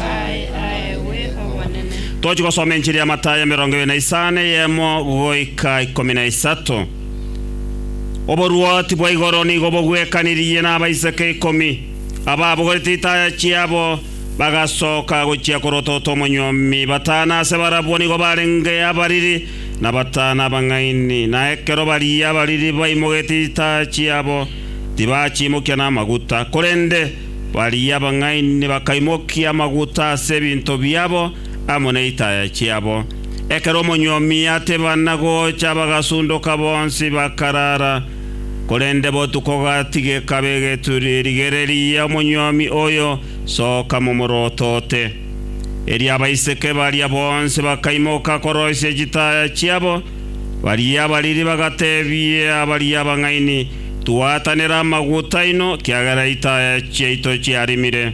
Aye, aye, we Omonene. Tochi gosoma Enchiri ya Matayo emerongo ebere na isano eyemo goika ikomi na isato. Oborwoti bwa igoro nigo bogwekanirie nabaiseke ikomi, ababogorete itaya chiabo bagasoka gochia korotota omonyuomi. Batano ase barabwo nigo barenge abariri, na batano abang'aini. Na ekero baria abariri baimogetie itaya chiabo, tibachiimokia namaguta, korende Baria abang'aini bakaimokia amaguta ase ebinto biabo amo neitaya chiabo. Ekero omonyuomi atebana gocha bagasundoka bonsi bakarara, korende botuko gatigeka begeturi rigereria omonyuomi oyo soka momorotote. Erio abaiseke baria bonsi bakaimoka koroisia chitaya chiabo, baria abariri bagatebia baria abang'aini, Twaatanera amaguta aino, kiagera itaya chiaito chiarimire.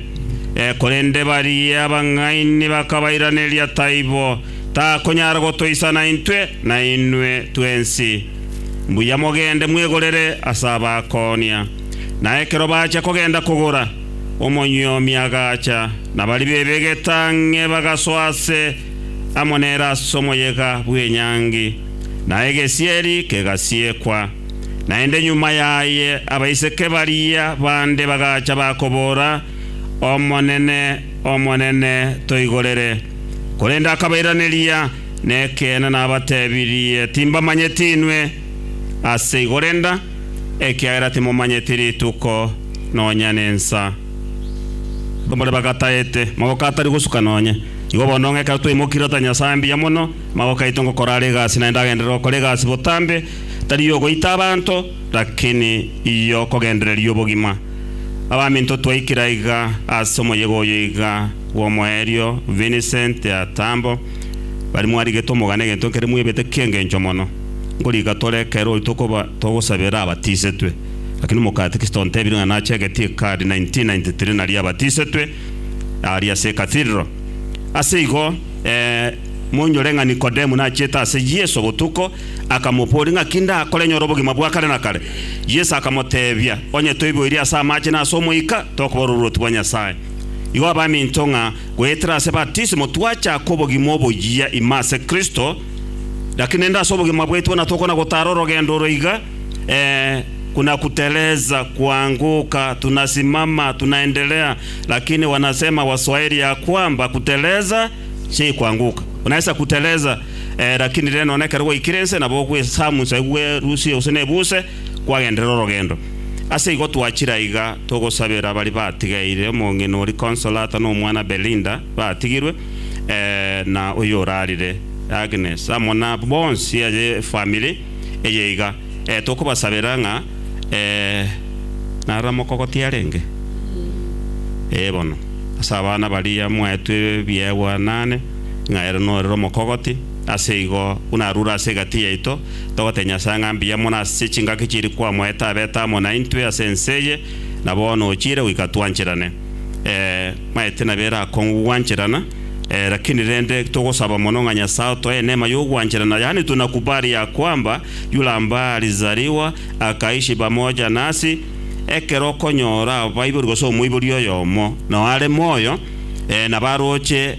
Korende baria abang'aini bakabairaneria, Taibo, takonyara gotoisana intwe na inwe twensi. Mbuya mogende mwegorere ase abakoonia. Na ekero bachia kogenda kogora, omonyuomi agacha, na baria bebegete ang'e bagasoa aase amo nere ase omoyega bw'enyangi, na egesieri kegasiekwa. Naende nyuma yaye abaiseke baria bande bagacha bakobora, Omonene, Omonene, toigorere. Korende akabairaneria, Nekeene nabatebirie, timbamanyeti inwe. Ase igo renda, ekiagera timomanyeti rituko nonya nensa. Abamura bagataete, magoko atari gosuka nonya. Igo bono ng'ekero twaimokire otari Nyasae mbuya mono, magoko aito ngokora are egasi, naende agenderere gokora egasi botambe, tari yogoita abanto, lakini yokogendereria obogima. Abaminto twaikire aiga ase omoyega oyo iga bw'omoerio Vincent Atambo, bari mwarigete omogane egento ekere mwebete ki'engencho mono, Nkorika tore ekero oyo tokoba togosabera abatisetwe, lakini omokatikista ontebire ng'a nache egetie card 1993 naria abatisetwe aria ase Cathedral. Ase igo, ee, moinyore ng'a Nikodemu nachete ase Yeso botuko, Akamobooria, Ng'aki ndakore nyore obogima bwa kare na kare? Yeso akamoteebia, Onye toiboirie ase amache na ase Omoika, tokobora oboruoti bwa Nyasae. Igo abaminto ng'a goetera ase batisimo twachaka obogima oboyia ime ase Kristo, lakini nde ase obogima bwaito buna tokona gotara orogendo oro iga, Ee, kuna kuteleza, kuanguka, tunasimama, tunaendelea, lakini wanasema, Waswahili ya kwamba, kuteleza si kuanguka. Unaweza kuteleza, Lakini rende noone ekero gwaikire inse, nabo ogwesamusa igwe rusie gose nebuse, kwagenderera orogendo. Ase igo twachire aiga togosabera baria batigeire, omong'ina oria Consolata na omwana Belinda batigirwe, na oyorarire Agnes, amo na bonsi aye efamiri eye iga. Tokobasabera ng'a narora mokogo tiarenge, ee bono, ase abana baria mwaetwe ebiegwa naane, ng'a ere norere omokogoti, ase igo buna arure ase egati yaito, togotebia Nyasae ng'a mbuya mono ase chingaki chiria kwamoete abete amo naintwe ase ense eye, na bono ochiire goika twancherane. Ee, maete nabe ere akong'u gogwancherana, ee, lakini rende togosaba mono ng'a Nyasae otoe enema y'ogwancherana, yaani tunakubali ya kwamba yule ambaye alizaliwa akaishi pamoja nasi, ekero okonyora abaibori gose omoibori oyomo nao are moyo, ee, nabo aroche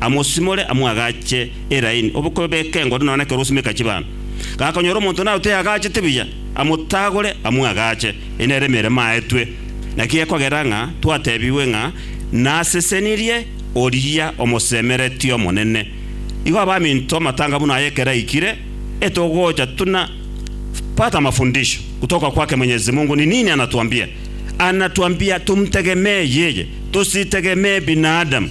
amosimore amwagache eraini, obokobe beke engodo nonya nekero osimeka chibando. Gakonyora omonto naro teyagachete buya, amotagore amwagache. Eye nere emeremo aetwe. Naki gekogera ng'a twatebigwe ng'a nasesenirie oria omosemeretie Omonene. Igo abaminto amatanga buna aya ekero aikire, etogocha tuna pata mafundisho kutoka kwake Mwenyezi Mungu ni nini anatuambia? Anatuambia tumtegemee yeye, tusitegemee binadamu.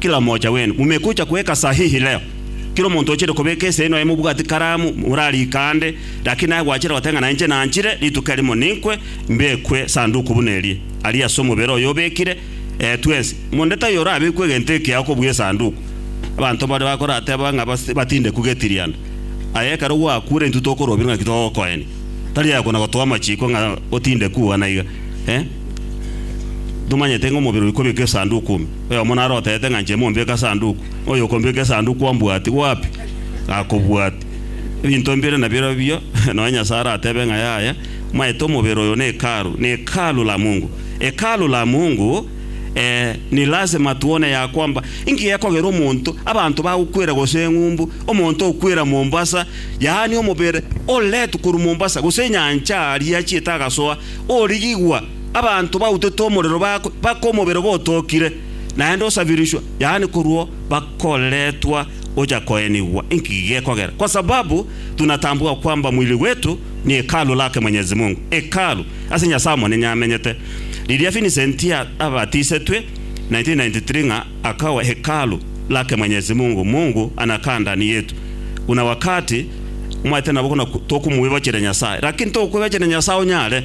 Kila mocha wenu mumekucha kuweka sahihi leo. Kila omonto ochire kobeka ese noye mobwati karamu morarike ande, lakini aye gwachire goteba ng'a nainche nanchire rituko erimo ninkwe mbekwe sanduku buna erie, aria ase omobere oyo obekire, ee, twensi. Monto taiyo orabekwe egento ekeyao kobua esanduku. Abanto baria bakorateba ng'a batindekwe getirianda, aye ekero gwakure intwe tokorobire ng'aki togokoenia. Tari aye kona-gotoa amachiko ng'a otindekwe ugwo naiga, ee, tomanyete ng'a omobere oyo kobekire esanduku ime. Oyomo naro oteete ng'a inche mombeke Esanduku, oyo okombeka Esanduku ombwati gwapi? Gakobwati. Ebinto mbire nabirobio, nonya Nyasae aratebe ng'a yaya, maete omobere oyo nehekalu, ni hekalu la Mungu. Hekalu la Mungu, ee, ni lasima twone ya kwamba, inki gekogera omonto, abanto bagokwera gose eng'umbu, omonto okwera Mombasa, yaani omobere oreretwe korwa Mombasa gose enyancha aria achiete agasoa, origigwa, abanto bautete omorero bakwe, baka omobere obo otokire, naende osabirishwe, yaani korwa bakoretwa ocha koenigwa. Inki gekogera? Kwa sababu tunatambua kwamba mwili wetu ni hekalu lake Mwenyezi Mungu, hekalu ase Nyasaye Omonene amenyete. Riria Vincent abatisetwe 1993 ng'a akawa hekalu lake Mwenyezi Mungu, Mungu anakaa ndani yetu. Kuna wakati, omanyete nabo buna tokomwebachera Nyasaye, lakini tokoebachera Nyasaye onyare.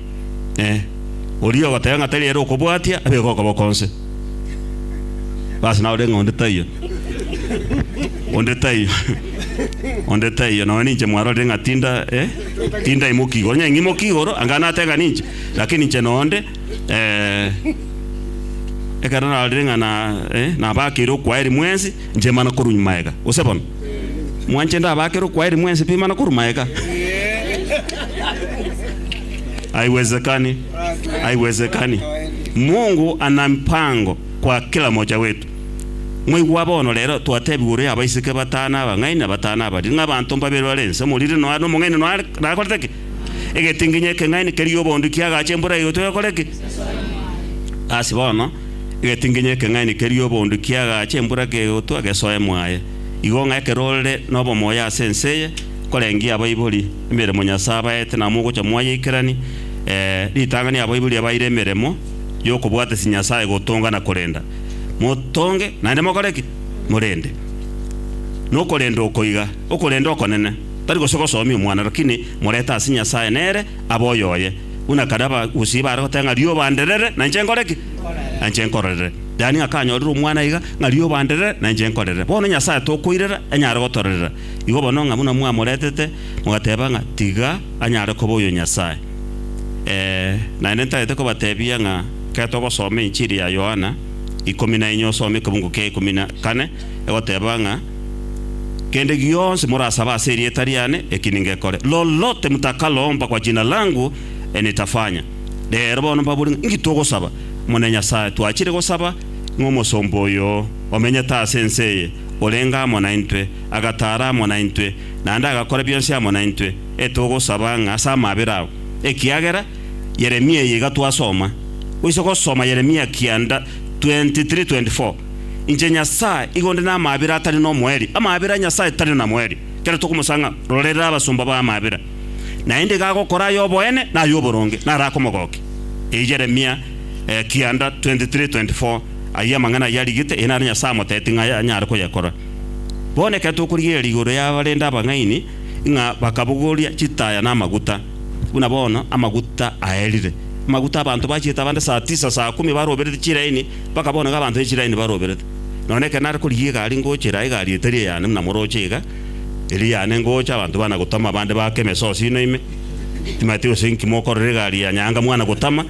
Eh, oria ogoteba ng'a tari ere okobwatia, abeke okoboko onse. Bas nawe ore ng'a onde taiyo. Onde taiyo. Onde taiyo. Nonya ninche mwarorire ng'a tinda, eh, tinda imoki igoro. Nonya ng'imoki igoro, anga natega ninche. Lakini inche nonde, eh, ekero narorire ng'a na, eh, nabakeire okwayeri mwensi, inche mana korwa nyuma aiga. Gose bono. Mwanchete abakere okwayeri mwensi pi mana korwa maega. Haiwezekani, haiwezekani. Mungu ana mpango kwa kila mocha wetu. Mwaigwa bono rero twatebigwa ore abaiseke batano abang'aini abatano abariri ng'a abanto mbabere bare ense omoriri noa nomong'aini noa nakorete ki? Egetinginyi ekeng'aini keria obondo kiagacha embura egoitwa egakora ki? Asi bono Egetinginyo ekeng'aini keria obondo kiagacha embura kegotwa gesoe mwaye, igo ng'a ekero ore nobomoyo ase ense eye, korengia abaibori emeremo Nyasae abaete na mogocha mwayeikerani, ee, ritang'ani abaibori abaire emeremo y'okobwatesia Nyasae gotonga na korenda. Motonge, naende mokore ki? Morende. Nokorenda oko iga, okorenda okonene, tari gose gosomia omwana, rakini morete ase Nyasae nere abe oyoye. Buna kare abagusii baare goteba ng'a rioba anderere, na inche nkore ki? Na inche nkororere. Yaani ng'a kanyorire omwana iga, ng'a rioba anderere, na inche nkorerere. Bono Nyasae tokoirera anyare gotorerera. Igo bono ng'a buna mwamoretete, mogateba ng'a tiga anyare koba oyo Nyasae. Ee, naende ntagete kobatebia ng'a ekero togosoma Enchiri ya Yohana ikomi na enye osome ekebungo kia ikomi na kane, egoteba ng'a, Kende gionsi morasabe ase erieta riane, eki ningekore. Lolote mutakalomba kwa jina langu, enitafanya. Rero bono mbabori ng'a inki togosaba? Omonene Nyasae, twachire gosaba ng'a omosomba oyo omenyete ase ense eye orenge amo naintwe, agataara amo naintwe, naende agakora bionsi amo naintwe etogosaba ng'a ase amabera ao, ekiagera Yeremia eye iga twasoma. Goise gosoma Yeremia kianda 23:24. Inche Nyasae, igo onde namabera atari nomoerio, amabera a Nyasae tari namoerio, kera tokomosa ng'a, Rorera abasomba bao amabera, naende iga agokora ay'oboene na ay'oboronge, narakomogokia. Eye Yeremia, ekianda, 23:24, Ayio amang'ana ayio arigete, eye naro Nyasae amoteeti ng'a anyare koyekora. Bono ekero tokorigereria igoro y'abarende abang'aini ng'a bakabogoria chitaya na amaguta, buna bono amaguta aerire, amaguta abanto bachiete abande saa tisa, saa kumi baroberete chiraini, mpaka bono iga abanto ne chiraini baroberete. Nonya ekero nare korigia egari ngochera, egari etari eyane buna moroche iga, eri yane ngocha, abanto bana gotama, abande baake emesosi inwe ime, timanyeti gose inki mokorera egari ya Nyaanga mwana gotama.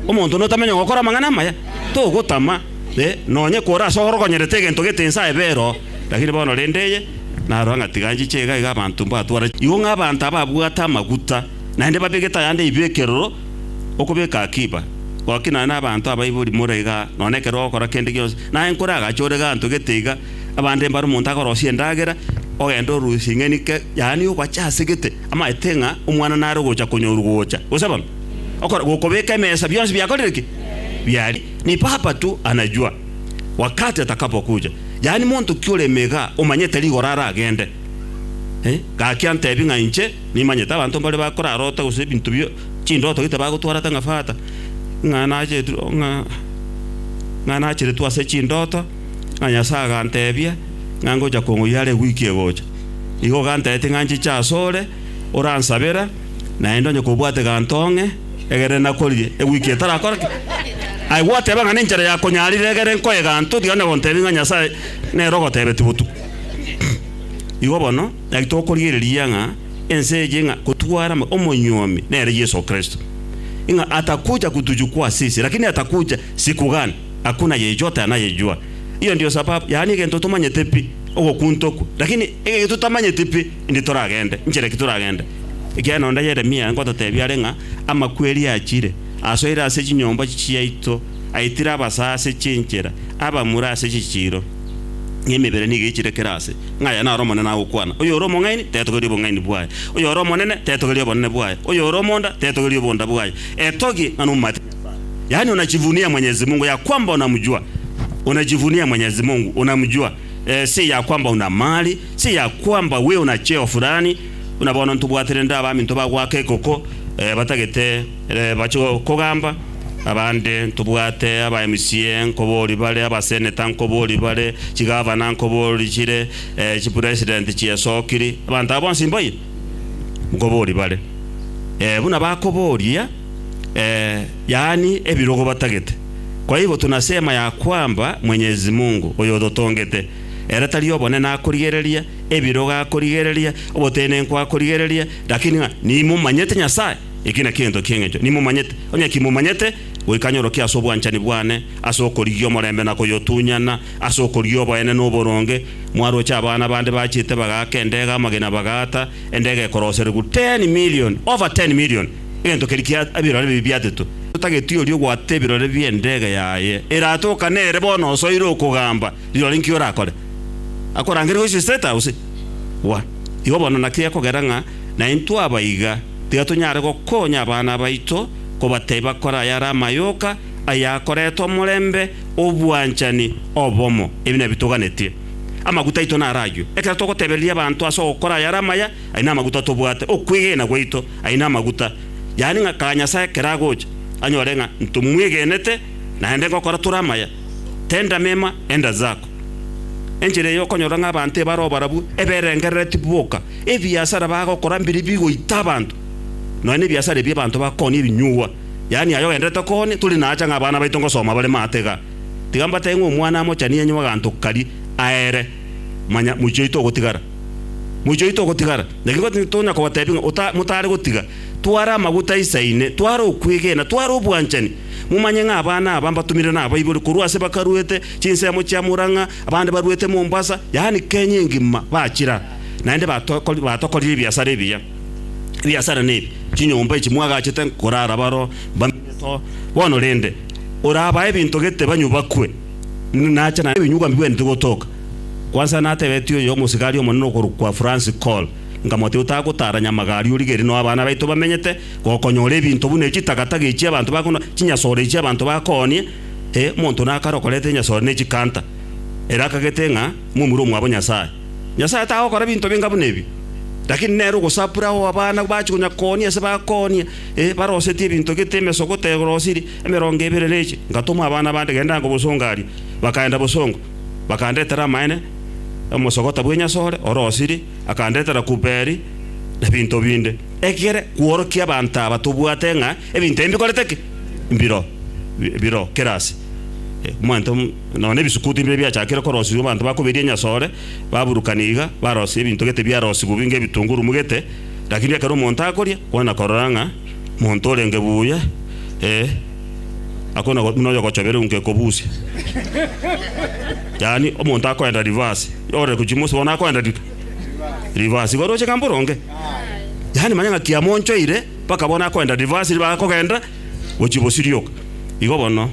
Omonto notamanya gokora amang'ana amaya, togotama, eh, nonya ekore ase orogonyerete egento gete inse aye bera oo. Lakini bono rende eye, narora ng'a tiga nchiche iga, iga abanto mbatwara. Igo ng'a abanto ababwate amaguta, naende babegete ayande eibekerero, okobeka akiba, gaki nane abanto abaibori more iga, nonya ekero ogokora kende gionsi, naye nkore agacha ore gento gete iga, abande mbare omonto akorosie endagera, ogende orusie ing'eni ke, yaani ogocha ase gete, amaete ng'a omwana nare ogocha konyorwa gocha. Gose bono? Okora, gokobeka emesa bionsi biakorire ki? Biari. Ni Baba tu anajua wakati atakapokuja. Yaani monto ki ore emega omanyete rigoro aragende? Eh, gaki antebi ng'a inche, Nimanyete abanto mbare bakorarota gose ebinto bie chindoto gete bagotwarete ng'a Fata, ng'a nachetirwe ng'a ng'a nacheretwe ase chindoto, ng'a Nyasae agantebia ng'a ngocha kong'oyia are wiki egocha. Igo ogantebetia ng'a nchiche asore oransabera naende onye kobwate eganto ong'e egere nakoririe ewiki etarakora ki? Aye gwateba ng'a nenchera ya konyarire egere nkoe eganto tiga onye gontebia ng'a Nyasae nere ogotebetia botuko. Igo bono. Naki tokorigereria ng'a ense eye ng'a gotwarama omonyuomi nere Yeso Kristo, ng'a atakocha kotuchukwa ase ise, lakini atakocha sikugana akwo na yechwa tana yechwa. Eyo ndio sababu, yaani egento tomanyete pi, ogokunta okwo, lakini ege totamanyeti pi, indi toragende, nchera ki toragende. Ekiagera onde Yeremia ngototebia are ng'a amakweri achire, asoire ase chinyomba chiaito, aitire abasase chinchera, abamura ase chichiiro. na emebere nigo echire kera aase, ng'a aya naro omonene agokwana. Oyore omong'aini tetogeria obong'aini bwaye, oyore omonene tetogeria obonene bwaye, oyore omonda tetogeria obonda bwaye. Etogie ng'a nomomate Nyasae, yaani unajivunia Mwenyezi Mungu ya kwamba unamjua, unajivunia Mwenyezi Mungu unamjua, ee, si ya kwamba una mali, si ya kwamba we una cheo fulani. Buna bono ntobwate rende abaminto bagoaka ekoko, ee, batagete. Bachia kogamba, Abande ntobwate aba-emc nkobori bare, abaseneta nkobori bare, chigavana nkobori chire, chipresident chiesokiri, abanto aba bonsi mbaye? nkobori bare. Buna bakoboria, yaani ebirogo batagete, kwaibo tunasema ya kwamba Mwenyezi Mungu oyototongete, ere tari obonene akorigereria, ebirogo akorigereria, obotenenku akorigereria, lakini ng'a nimomanyete Nyasaye? Eki nakio egento ki'engencho nimomanyete, onye ki momanyete, goika nyorokia ase obwanchani bwane, ase okorigia omorembe na koyotunyana, ase okorigia oboenene na oboronge, mwaroche abana bande bachete bagaaka endega amagena bagaata endega ekoroserigwa ten million, over ten million, egento keria kia ebirore bibi biatetwe. Totageti oria ogwata ebirore bi'endega yaye eraate oka nere bono osoire okogamba rirore nki orakore. Akorangeria gochia State House? Wa. Igo bono naki ekogera ng'a naintwe abaiga. Tiga tonyare gokonya abana baito kobatebia bakore ayare amayoka aya akoreta omorembe, obwanchani, obomo. Ebi nabio toganetie. Amaguta aito naraywe. Ekero togotebereria abanto ase ogokora ayare amaya, aye namaguta tobwate. Okwegena gwaito, aye namaguta. Yaani ng'a kara Nyasae ekero agocha, anyore ng'a ntomwegenete naende ngokora tore amaya. Tenda mema, enda zako. Enchera eye okonyora ng'a abanto ebare oborabu eberengerereti boka, ebiasara bagokora mbiri bigoita abanto, nonya nebiasara ebi abanto bakooni ebinyugwa. Yaani aye ogenderete kooni tori naacha ng'a abana baito ngosoma bare maate igaa. Tiga mbatebie ng'a omwana amochani enywe aganto karia aere, manya moichi oito ogotigara. Moichi oito ogotigara. Naki igo tonya kobatebia ng'a ota motare gotiga. Tware amaguta isa ine, tware okwegena, tware obwanchani. Momanye ng'a abana aba mbatomire nabaibori korwa ase bakaruete, Chinsemo chia Murang'a abande baruete Mombasa, yaani Kenya engima bachira, naende batokorire ebiasara ebiya. Ebiasara nebi, chinyomba echi mwagachete korara baro mbamenyete oo. Bono rende, orabae ebinto gete banywe bakwe, nache naye ebinyugwa mbigwenerete gotoka. Kwansa natebetie oyo omosigari omonene okorokwa Francis Cole, nkamotebia otagotara Nyamagaria origerie nao abana baito bamenyete, gokonyora ebinto buna echitagataga echi abanto bakonoa, chinyasore echi abanto bakoonie, E, omonto na kare okoreta enyasore ne chikanta, ere akagete ng'a momura omwabo Nyasae. Nyasae tagokora binto benga buna ebi, lakini nere ogosapura ao abana bache konya koonia ase bakoonia, e, barosetie ebinto gete emesogoto erosiri emerongo ebere neche. Ngatoma abana bande gendango bosongo aria, bakaenda bosongo, bakandetera amaene, omosogota bw'enyasore orosiri, akandetera kuperi, na binto binde. Ekere kworokia abanto aba tobwate ng'a ebinto ebi bikorete ki? mbiro biro kera ase omonto, nonya nebisukuti mbire biachakire korosiswa abanto bakoberia enyasore, baburukana iga, barosia ebinto gete biarosiwu bi ngebitunguru mu gete, lakini ekero omonto akoria, kwana korora ng'a monto orenge buya, eh, akona buna oyogochobera unke kobusia. Yaani omonto akoenda reverse, ore gochia mosio bono akoenda reverse, igo oroche ng'a mboronge? Yaani manya ng'a kiamonchoire. Mpaka bono akoenda Devasi bakogenda gochia bosirioka. Igo bono,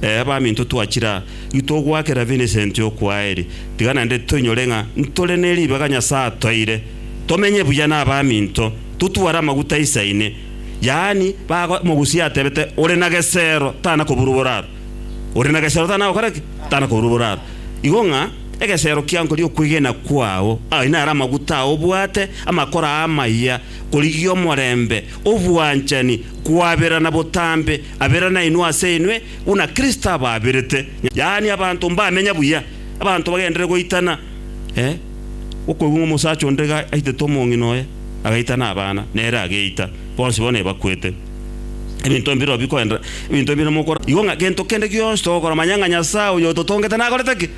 ee baminto twachire aa, titogwakera Vincent okwaaeri, tiga naende toinyore ng'a ntore ne ribaga Nyasae atoire, tomenye buya nabaminto, totware amaguta insa ine. Yaani, bago, mogusia atebete, ore na gesero tana koburwa boraro. Ore na gesero tana gokora ki? Tana koburwa boraro. Igo ng'a egesero kiankori okwegena kwao, aye naro amaguta ao obwate, amakoro aa amaya, Origie omorembe, obwanchani, koaberana botambe abera nainwe ase inwe, buna Kristo abaaberete, yaani abanto mbamenya buya, abanto bagenderere goitana. Ee, gokoigwa ng'a omosacha onde iga aitete omong'ina oye, agaitana abana, nere ageita, bonsi bono ebakwete. Ebinto mbireo bikoenderera, ebinto ebi namokora igo ng'a gento kende gionsi togokora, manya ng'a Nyasae oyototongete nakorete ki?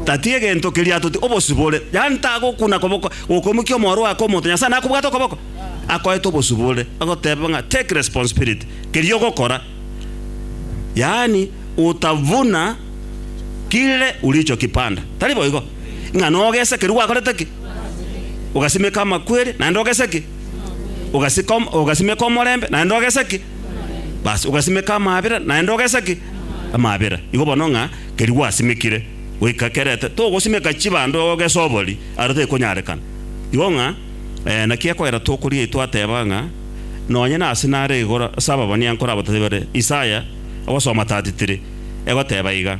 Tatiga gento keria atoti, obosibore, yaani tagokuna koboko. Gokomokia omoro oye akomonto, Nyasae nakobwate okoboko, akoete obosubore, agoteba ng'a take responsibility keria ogokora, yaani utavuna kile ulichokipanda, tari boigo? Ng'a nogesa keria gwakorete ki? Ogasimeka amakweri, naende ogese ki? Ogasika ogasimeka omorembe, naende ogese ki? Bas, ogasimeka amaabera, naende ogese ki? Amaabera. Igo bono ng'a keria gwasimekire goika kerete, togosimeka chibando ogese obori. Aro tekonyarekana igo ng'a naki ekwera tokoria itwe ateba ng'a nonye nase nare igoro ase ababonia nkorabatebi bare Isaya ogosoma tatitiri egoteba iga,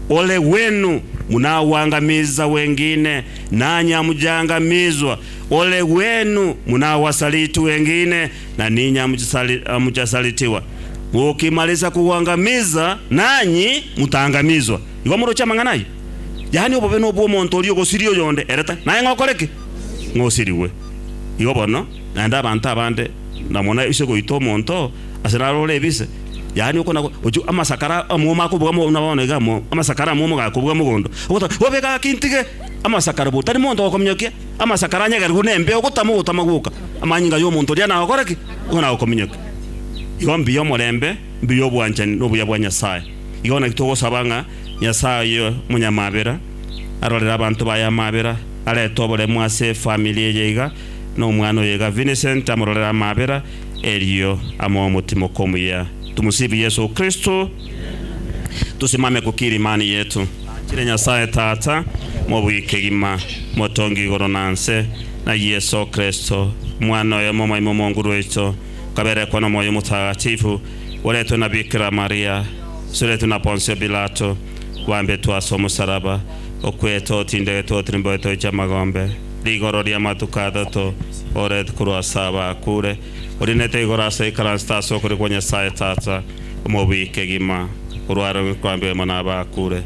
Ole gwenu munagwangamizza wengine nanya mujangamizwa, ole gwenu munagwasaritwe wengine na ninya muchasaritiwa, mokimarisa kugwangamizza nanyi mutangamizwa. Igo moroche amang'ana ayio. Yaani obobe nobw'omonto oria ogosiria oyonde, ere tari naye ng'a okore ki? Ng'a osirigwe. Igo bono naende abanto abande namona ise goita omonto ase naro ore ebise, yaani okona gochia amasakara amwoma akobuga mogondo buna bono iga amasakara amwoma gakobuga mogondo, ogotaka bobe gaki ntige amasakara bo tari monto ogokominyokia, amasakara anyegerigwe nembeo ogotama ogotama gwoka, amanyinga y'omonto oria nagokore ki? Nigo nagokominyokia. Igo mbuya omorembe, mbuya obwanchani nobuya bwa Nyasae. Igo naki togosaba ng'a Nyasae oye omonyamabera arorere abanto baye amabera, arete oboremu ase efamiri eye iga, na omwana oye iga Vincent amororere amabera, erio amoe omotima okomuya. Tumusifu Yesu Kristo. Tosimame ku kirimani yetu. Achire Nyasae Tata, Mobui kegima, Motongi igoro na nse, na Yeso Kristo, Omwana oye omomoimo omonguru oito, kaberekwa nomoyo omotagatifu, oretwe na Bikira Maria, suretwe na Ponsio Pilato, bambetwe ase omosaraba, okwetwa, otindegetwe, otirimboetwe gochia amagombe, rigoro ri'amatuko atato, oretwe korwa ase abakure, oriinetwe igoro ase ekaransete ase okorio kwa Nyasaye Tata, omobui kegima, orwareng'we koambigwa imo nabakure,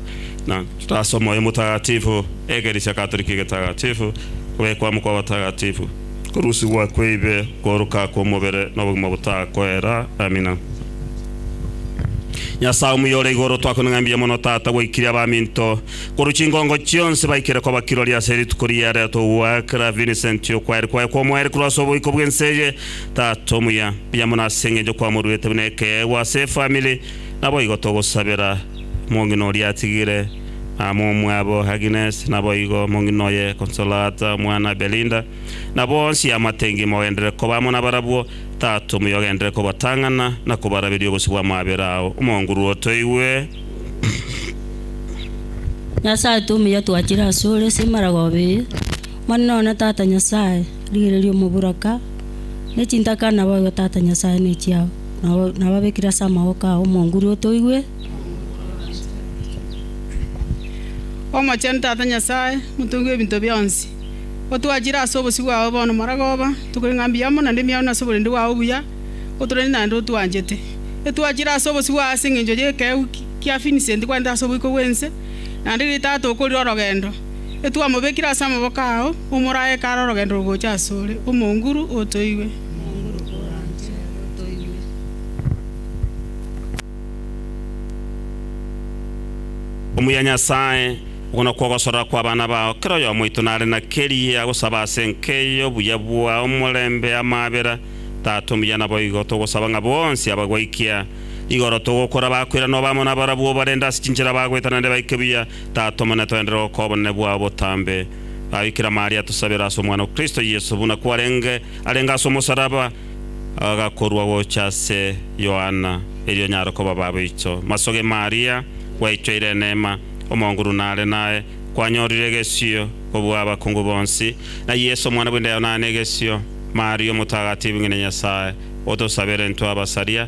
na ase omoyo omotagatifu, ekeresia Katoliki egetakatifu, kobekwa amo kwa abatagatifu. korusigwa kw'eibe, kooroka kw'omobere, na obogima botakoera. Amina. Nyasae omuya ore igoro, twakominga mbuya mono Tata gwaikire abaminto korwa chingongo chionsi baikere koba kirori ase rituko riya ria togoakera Vincent okwaeri kwaye kw'omoerio korwa ase oboiko bw'ense eye. Tata omuya, mbuya mono ase engencho kwamoruete buna ekeegwa ase efamili. Naboigo togosabera mong'ina oria atigire. na momwabo Agnes, naboigo mong'ina oye Consolata, omwana Belinda, na bonsi amatengi mogenderere koba amo nabarabwo, Tata omuya ogenderere kobatang'ana na kobaraberia obosio bw'amabera ao, omonguru otoigwe. Nyasae tata omuya twachire asore ase emaragoba eye, monene one tata Nyasae, rigereria omoburaka, ne chintakana naboigo tata Nyasae nechiao, nababekire ase amaboko ao, omonguru otoigwe. Omochenu Tata Nyasae, Motongi bw'ebinto bionsi, otwachire ase obosio bwao bono Magoba, tokorenge ng'a mbuya mono naende emiao ase oborende bwao obuya, otorende naende otwanchete. Etwachire ase obosio bwao ase engencho y'ekeegu kia Vincent kwarente ase oboiko bw'ense, naende riria tata okorire orogendo, etwamobekire ase amaboko ao, omorae ekare orogendo rogocha ase ore. Omonguru, otoigwe. Omuya Nyasae, okwo nokwo ogosora kw'abana bao, kera oyomo oito nare na keria agosaba ase enka eye obuya bwa omorembe amaabera. Tata omuya naboigo, togosaba ng'a bonsi abagoikia igoro togokora bakwera nobe amo nabarabwo barende ase chinchera bagoeta naende baike buya. Tata Omonene, toenderere gokoa obonene bwao botambe. Baabikira Maria, tosabere ase Omwana o Kristo Yeso, buna kwarenge arenge ase omosaraba, agakorwa gocha ase Yohana, erio nyare koba baboicho. Masoge Maria, gwaichoire eneema, omonguru nare naye, kwanyorire egesio kobua abakungu bonsi, na Yeso omwana bw'enda yao nare negesio. Maria omotagatifu, ng'ina Nyasae, otosabere intwe abasaria,